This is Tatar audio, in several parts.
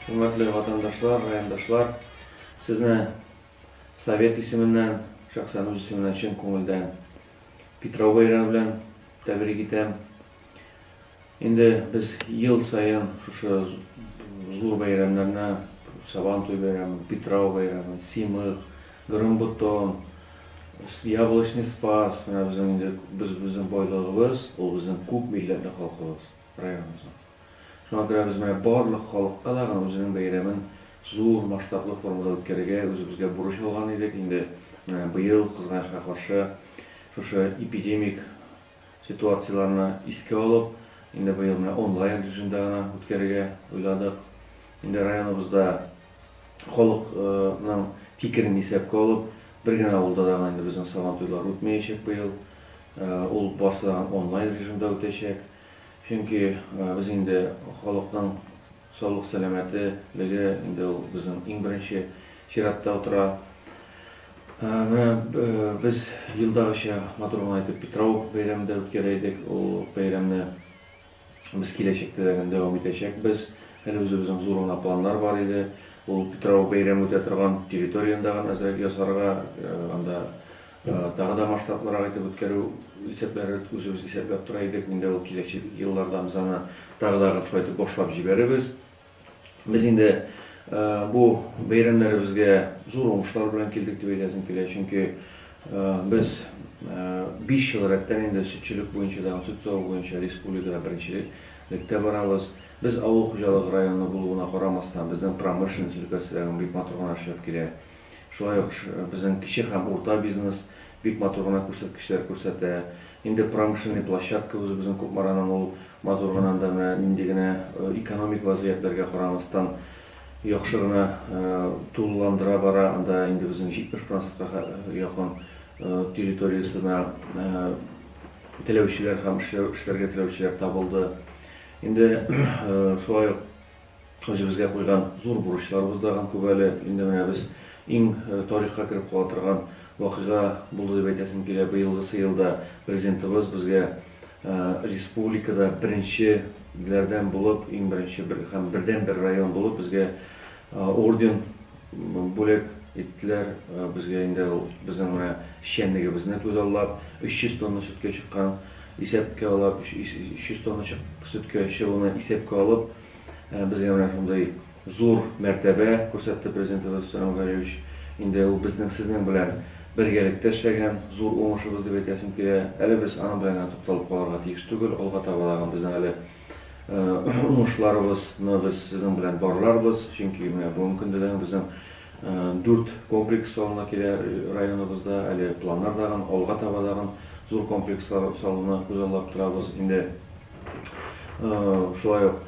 Хөрмәтле ватандашлар, райондашлар! Сезне Совет исеменнән, шәхсән үз исемемнән чын күңелдән Питрау бәйрәме белән тәбрик итәм. Инде без ел саен шушы зур бәйрәмнәрне, Сабантуй бәйрәмен, Питрау бәйрәмен, Симык, Грымбутон, Яблочный Спас, менә безнең инде без безнең байлыгыбыз, ул безнең күп милләтле халкыбыз, районыбызның. Шуңа күрә без менә барлык халыкка да гына үзенең бәйрәмен зур масштаблы формада үткәрергә үзебезгә бурыч алган идек. Инде менә быел, кызганычка каршы, шушы эпидемик ситуацияләрне искә алып, инде быел менә онлайн режимда гына үткәрергә уйладык. Инде районыбызда халык ның фикерен исәпкә алып, бер генә авылда да гына инде безнең Сабантуйлар үтмәячәк быел. Ул барсы да онлайн режимда үтәчәк. Чөнки без инде халыкның Саулык сәламәте леге инде ул безнең иң беренче чиратта утыра. Менә без елдагыча матур гына итеп Питрау бәйрәмен дә үткәрә идек. Ул бәйрәмне без киләчәктә дә гел дәвам итәчәкбез. Әле үзебезнең зур гына планнар бар иде. Ул Питрау бәйрәме үтә торган территорияне дә гел әзрәк ясарга, анда Тагы да масштаблырак итеп үткәрү исәпләре үзебез исәпләп тора идек. Инде ул киләчәк елларда без аны тагы да шулай итеп башлап җибәрербез. Без инде бу бәйрәмнәребезгә зур уңышлар белән килдек дип әйтәсем килә. Чөнки без биш ел рәттән инде сөтчелек буенча да һәм сөт саву буенча республикада беренчелектә барабыз. Без авыл хуҗалыгы районы булуына карамастан, безнең промышленность өлкәсе дә бик матур гына эшләп килә. Шулай ук безнең кече һәм урта бизнес бик матур гына күрсәткечләр күрсәтә. Инде промышленный площадка үзебезнең Кукмараның ул матур гына анда менә нинди генә экономик вазгыятьләргә карамастан яхшы гына тулыландыра бара. Анда инде безнең 70 процентка якын территориясенә теләүчеләр һәм эшләргә теләүчеләр табылды. Инде шулай ук Үзебезгә куйган зур бурычларыбыз да күп әле. Инде менә без иң тарихка кереп кала торган вакыйга булды дип әйтәсем килә. Быелгысы елда Президентыбыз безгә республикада беренчеләрдән булып, иң беренче һәм бердәнбер район булып безгә орден, Бүләк иттеләр безгә инде ул безнең менә эшчәнлегебезне күзаллап, 300 тонна сөткә чыккан, исәпкә алап, 300 тонна чык сөткә чыгуны исәпкә алып, безгә менә шундый зур мәртәбә күрсәтте Президентыбыз Рөстәм Мөхәммәтгалиевич. Инде ул безнең сезнең белән бергәлектә эшләгән зур уңышыбыз дип әйтәсем килә. Әле без аның белән генә тукталып калырга тиеш түгел, алга таба да безнең әле уңышларыбыз ны без сезнең белән барларбыз, чөнки менә бүгенге көндә дә безнең дүрт комплекс салына килә районыбызда, әле планнар дагын, алга таба дагын зур комплекслар салуны күзаллап торабыз. Инде шулай ук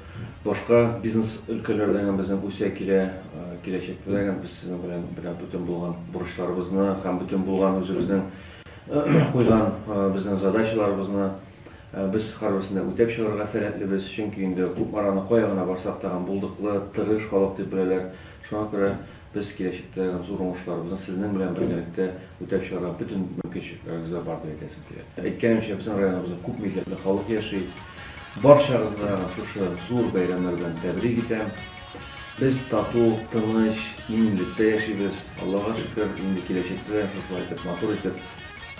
башка бизнес өлкәләр дә безнең үсә килә, киләчәктә дә без сезнең белән белән бөтен булган бурычларыбызны һәм бөтен булган үзебезнең куйган безнең задачаларыбызны Без һәрберсен дә үтәп чыгарга сәләтлебез, чөнки инде күп араны кая гына барсак та гам булдыклы, тырыш халык дип беләләр. Шуңа күрә без киләчәктә гам зур уңышларыбызны сезнең белән бергәлектә үтәп чыгарга бөтен мөмкинчелекләребез дә бар дип әйтәсем килә. Әйткәнемчә, безнең районыбызда күп милләтле халык яши. Барчагызны гам шушы зур бәйрәмнәр белән тәбрик итәм. Без тату, тыныч, иминлектә яшибез. Аллага шөкер, инде киләчәктә дә шушылай итеп, матур итеп.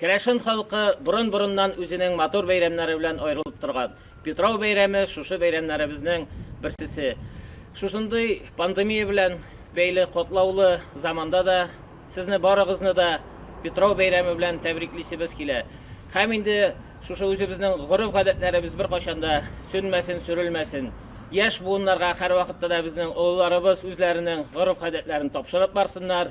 Керәшен халкы борын-борыннан үзенең матур бәйрәмнәре белән аерылып торган. Питрау бәйрәме, шушы бәйрәмнәребезнең берсесе. Шушындый пандемия белән бәйле катлаулы заманда да сезне барыгызны да Питрау бәйрәме белән тәбриклисебез килә. Һәм инде шушы үзебезнең гореф-гадәтләребез беркайчан да сүнмәсен, сүрелмәсен. Яшь буыннарга һәрвакытта да безнең олыларыбыз үзләренең гореф-гадәтләрен тапшырып барсыннар.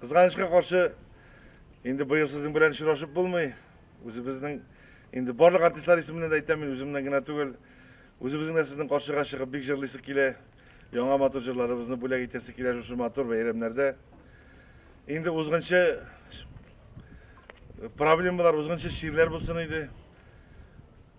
Кызганычка каршы, инде быел сезнең белән очрашып булмый. Үзебезнең инде барлык артистлар исеменнән дә әйтәм, мин үземнән генә түгел. Үзебезнең дә сезнең каршыга чыгып бик җырлыйсы килә. Яңа матур җырларыбызны бүләк итәсе килә шушы матур бәйрәмнәрдә. Инде узгынчы проблемалар, узгынчы ширләр булсын иде.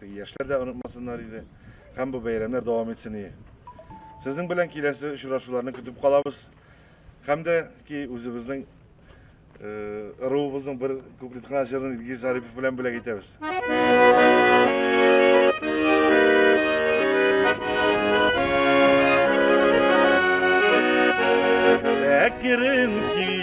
Теге яшьләр дә онытмасыннар иде һәм бу бәйрәмнәр дәвам итсен ие. Сезнең белән киләсе очрашуларны көтеп калабыз һәм дә ки үзебезнең ыруыбызның бер куплет кына җырын Илгиз Зарипов белән бүләк итәбез. Әкрен ки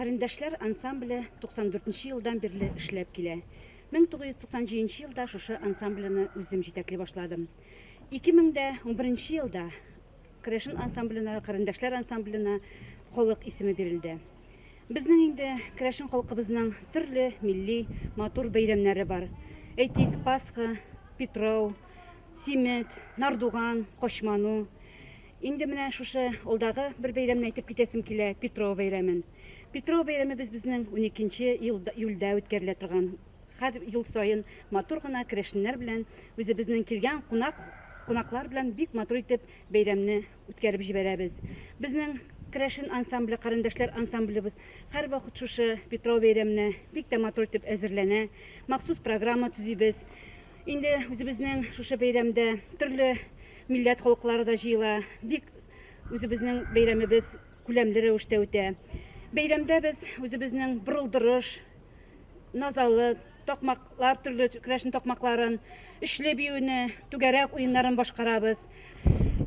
Карендәшләр ансамбле 94 нче елдан бирле эшләп килә. 1997 нче елда шушы ансамблены үзем җитәкли башладым. 2011 нче елда Крэшен ансамбленә, Карендәшләр ансамбленә халык исеме бирелде. Безнең инде Крэшен халкыбызның төрле милли матур бәйрәмнәре бар. Әйтик, Пасха, Питрау, Симет, Нардуган, Кочману. Инде менә шушы алдагы бер бәйрәмне әйтеп китәсем килә, Петро бәйрәмен. Петро бәйрәме без безнең уникенче ел июльдә үткәрелә торган һәр ел саен матур гына керәшеннәр белән, үзебезнең килгән кунак кунаклар белән бик матур итеп бәйрәмне үткәреп җибәрәбез. Безнең керәшен ансамбле, карендәшләр ансамблебыз һәрвакыт шушы Петро бәйрәменә бик тә матур итеп әзерләнә, махсус программа төзибез. Инде үзебезнең шушы бәйрәмдә төрле милләт халыклары да җыела. Бик үзебезнең бәйрәмебез күләмле рәвештә үтә. Бәйрәмдә без үзебезнең борылдырыш, назалы, такмаклар төрле керәшен такмакларын, өчле биюне, түгәрәк уеннарын башкарабыз.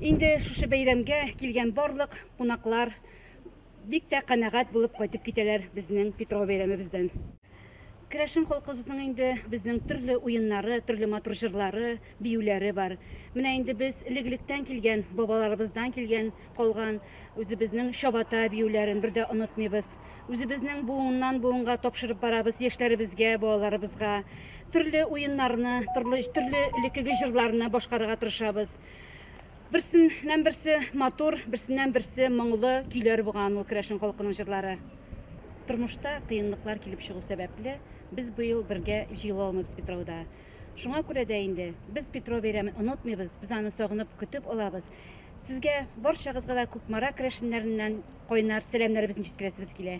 Инде шушы бәйрәмгә килгән барлык кунаклар Бик тә канәгать булып кайтып китәләр безнең Питрау бәйрәмебездән. Керәшен халкыбызның инде безнең төрле уеннары, төрле матур җырлары, биюләре бар. Менә инде без элек-электән килгән, бабаларыбыздан килгән, калган үзебезнең чабата биюләрен бер дә онытмыйбыз. Үзебезнең буыннан-буынга тапшырып барабыз яшьләребезгә, балаларыбызга. Төрле уеннарны, торлы төрле элеккеге җырларны башкарырга тырышабыз. Берсеннән-берсе матур, берсеннән-берсе моңлы көйләр булган ул керәшен халкының җырлары. Тормышта кыенлыклар килеп чыгу сәбәпле, без быел бергә җыела алмыйбыз Петрауда. Шуңа күрә дә инде без Петро бәйрәмен онытмыйбыз, без аны сагынып көтеп алабыз. Сезгә барчагызга да Кукмара керәшеннәреннән кайнар сәламнәребезне җиткерәсебез килә.